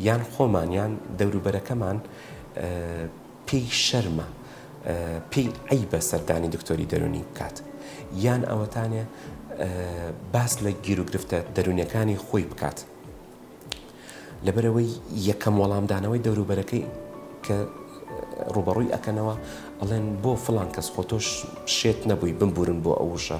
یان خۆمان یان دەوروبەرەکەمان پێی شەرمە پێی عیبە سەردانی دکتۆری دەرونی بکات یان ئەوەتانێ باس لە گیرروگرفتە دەرونەکانی خۆی بکات لەبەرەوەی یەکەم وەڵامدانەوەی دەوروبەرەکەی کە ڕوبەڕووی ئەەکەنەوە ئەڵێن بۆ فلان کەس خۆ تۆش شێت نەبووی بمبورن بۆ ئەوشە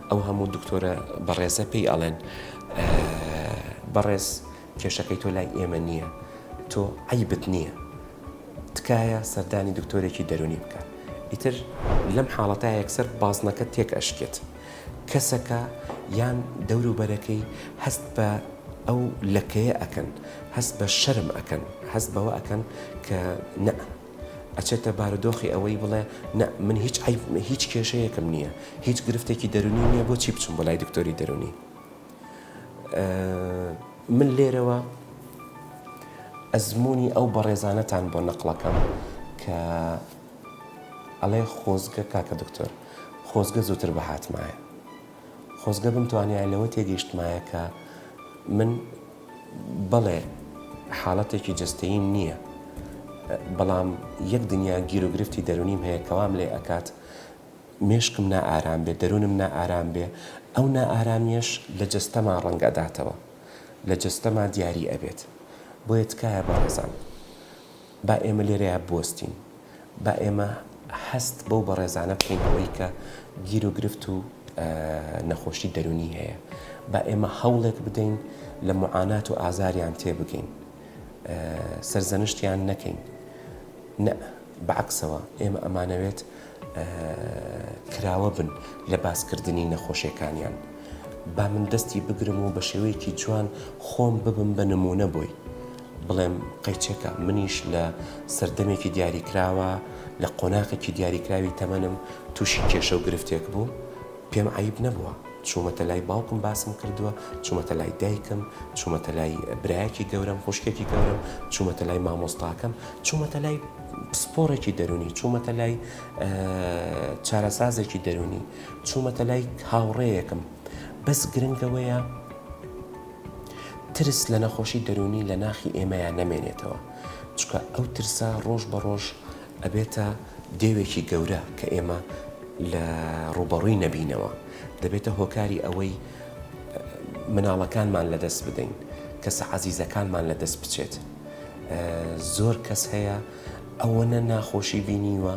ئەو هەموو دکتۆرە بەڕێزە پێی ئەڵێن بەڕێز کێشەکەی تۆ لای ئێمە نییە تۆ عەیبت نییە تکایە سەردانی دکتۆرێکی دەرونی بکە ئیتر لەم حاڵەتە یەکسەر بازنەکە تێک ئەشکێت کەسەکە یان دەوروبەرەکەی هەست بە ئەو لەکەیە ئەکەن هەست بە شەرم ئەکەن هەست بەوە ئەکەن کە نە ئەچێتە بارودۆخی ئەوەی بڵێ نا من هیچ عەیب هیچ کێشەیەکم نییە هیچ گرفتێکی دەرونیم نییە بۆچی بچم بۆ لای دکتۆری دەرونی من لێرەوە ئەزمموی ئەو بەڕێزانەتان بۆ نەقلەکەم کە ئەڵێ خۆزگە کاکە دکتۆر خۆزگە زووتر بە هاتمایە خۆزگە بمتوانیایە لەوە تێگەیشتمایە کە من بەڵێ حاڵەتێکی جەستەییم نییە، بەڵام یەک دنیا گیروگرفتی دەروونیم هەیە کە وام لێ ئەکات مێشکم نائارام بێ، دەروونم نائارام بێ، ئەو نائارامییەش لە جەستەما ڕەنگ ئەداتەوە، لە جەستەما دیاری ئەبێت. بۆیە تکایە بەڕێزان. با ئێمە لێرەیا بوەستین، با ئێمە هەست بەو بەڕێزانە بکەین ئەوەی کە گیر و گرفت و نەخۆشی دەرونی هەیە، با ئێمە هەوڵێک بدەین لە معانات و ئازاریان تێبگەین، سەرزەنشتیان نەکەین، نە بەعەکسەوە ئێمە ئەمانەوێت کراوە بن لە باس کردنی نەخۆشێکانیان با من دەستی بگرم و بە شێوەیەکی جوان خۆم ببم بە نمونە بۆی بڵێم قەیچەکە منیش لە سەردەمێکی دیاریکراوە لە قۆناقێکی دیاریکراوی تەمەنم تووشی کێشە و گرفتێک بووم پێم عیب نەبووە چوومەتە لای باوکم باسم کردووە چوومەتە لای دایکم چوومەتە لای برایەکی گەورەم خوشکێکی گەورەم چوومەتە لای مامۆستاکەم چوومەتە لای پسپۆڕێکی دەروونی، چوومەتە لای چارەسازێکی دەروونی، چوومەتە لای هاوڕێیەکم، بەس گرنگ ئەوەیە ترس لە نەخۆشی دەروونی لە ناخی ئێمەیان نەمێنێتەوە، چکە ئەو ترسە ڕۆژ بە ڕۆژ ئەبێتە دێوێکی گەورە کە ئێمە لە ڕووبەڕووی نەبینەوە، دەبێتە هۆکاری ئەوەی مناڵەکانمان لەدەست بدەین، کەسە عەزیزەکانمان لەدەست بچێت. زۆر کەس هەیە ئەوەنە ناخۆشی بینیوە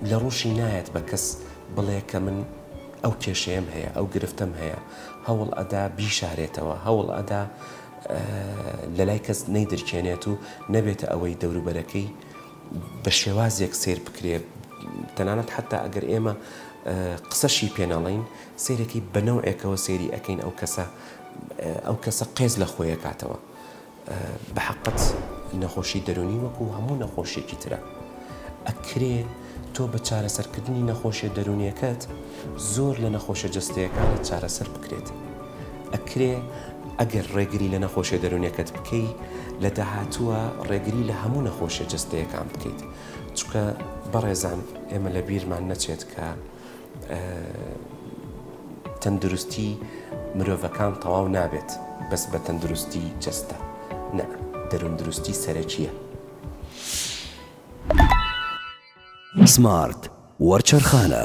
لە ڕوشی نایەت بە کەس بڵێ کە من ئەو کێشەیەم هەیە ئەو گرفتەم هەیە هەوڵ ئەدا بیشارێتەوە هەوڵ ئەدا لە لای کەس نەیدرکێنێت و نەبێتە ئەوەی دەوروبەرەکەی بە شێوازێک سیر بکرێت تەنانەت حتا ئەگەر ئێمە قسەشی پێناڵین سیرەکەی بەنەوەکەوە سێری ئەەکەین ئەو کەسە ئەو کەسە قێز لە خۆیەکاتەوە. بەحەقت نەخۆشی دەرونی وەکو هەموو نەخۆشیەکی ترە ئەکرێ تۆ بە چارەسەرکردنی نەخۆشیە دەرونیەکەت زۆر لە نەخۆشە جەستەیەکانت چارەسەر بکرێت ئەکرێ ئەگەر ڕێگری لە نەخۆشیە دەرونیەکەت بکەی لە داهاتووە ڕێگری لە هەموو نەخۆشیە جەستەیەکان بکەیت چکە بەڕێزان ئێمە لە بیرمان نەچێت کە تەندروستی مرۆڤەکان تەواو نابێت بەس بە تەندروستی جەستە نا دەروندروستی سەرەکیە. سمارت وەرچەرخانە.